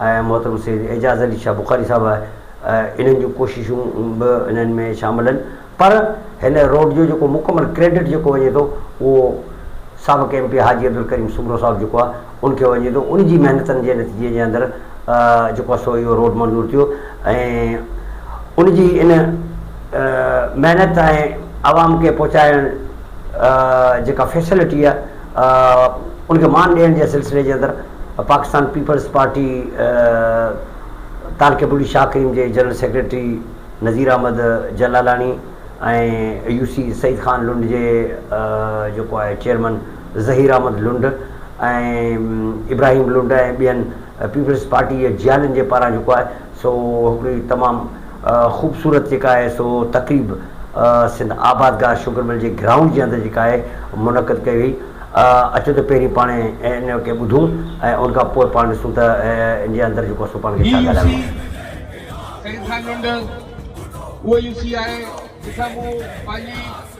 ۽ محترم سيد اعجاز علي شاهه بخاري صاحب انهن جون ڪوششون به انهن ۾ شامل آهن پر هن روڊ جو جيڪو مڪمل ڪريڊٽ جيڪو وڃي ٿو اهو سابق ايم پي حاجي عبدالڪريم سومرو صاحب جيڪو آهي ان کي وڃي ٿو ان جي محنتن جي نتيجي جي اندر جيڪو آهي سو اهو روڊ منظور ٿيو ۽ ان جي ان محنت ۽ عوام کي پهچائڻ جيڪا فيسلٽي آهي ان کي مان ڏيڻ جي سلسلي جي اندر پاڪستان پيپلز پارٽي تارڪي بلوچ شاهه ڪريم جي general secretary Nazir Ahmed Jalalani ۽ U C Saeed Khan Lund جي جيڪو آهي چيئرمن ظهير احمد لنڊ ۽ ابراهيم لنڊ ۽ ٻين پيپلز پارٽي جي جيالن جي پاران جيڪو آهي سو هڪڙي تمام خوبصورت جيڪا آهي سو تقريب سنڌ آباد گاهه شگر مل جي گرائونڊ جي اندر جيڪا آهي منعقد ڪئي وئي. اچو ته پهرين پاڻ ان کي ٻڌون ۽ ان کان پوء پاڻ ڏسون ته ان جي اندر جيڪو سو پاڻ کي ڇا ڳالهائڻو آهي. سيد خان لنڊ اهو يو سي آهي جتان مون پنهنجي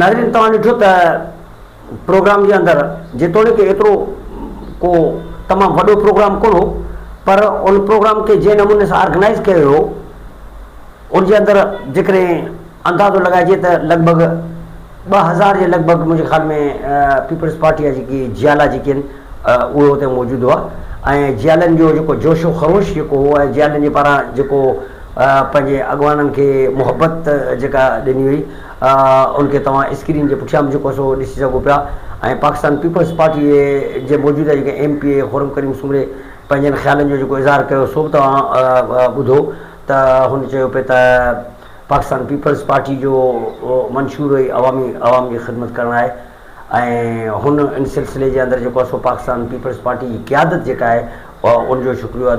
ناظرين توهان ڏٺو ته پروگرام جي اندر جيتوڻيڪ ايترو ڪو تمام وڏو پروگرام ڪونه هو پر ان پروگرام کي جنهن نموني سان آرگنائيز ڪيو ويو هو ان جي اندر جيڪڏهن اندازو لڳائجي ته لڳ ڀڳ ٻه هزار جي لڳ ڀڳ منهنجي خيال ۾ پيپلز پارٽي جا جيڪي جيالا جيڪي آهن اهي اتي موجود هئا ۽ جيالن جو جيڪو جوش و خروش جيڪو هو ۽ جيالن جي پاران جيڪو پنهنجي اڳواڻن کي محبت جيڪا ڏني وئي ان کي توهان اسڪرين جي پٺيان به جيڪو سو ڏسي سگهو پيا ۽ پاڪستان پيپلز پارٽي جي موجوده جيڪي M P A Khurram Karim Soomro پنهنجن خيالن جو جيڪو اظهار ڪيو سو به توهان ٻڌو ته هن چيو پئي ته پاڪستان پيپلز پارٽي جو منشور ئي عوامي عوام جي خدمت ڪرڻ آهي ۽ هن ان سلسلي جي اندر جيڪو آهي سو پاڪستان پيپلز پارٽي جي قيادت جيڪا آهي ان جو شڪريو ادا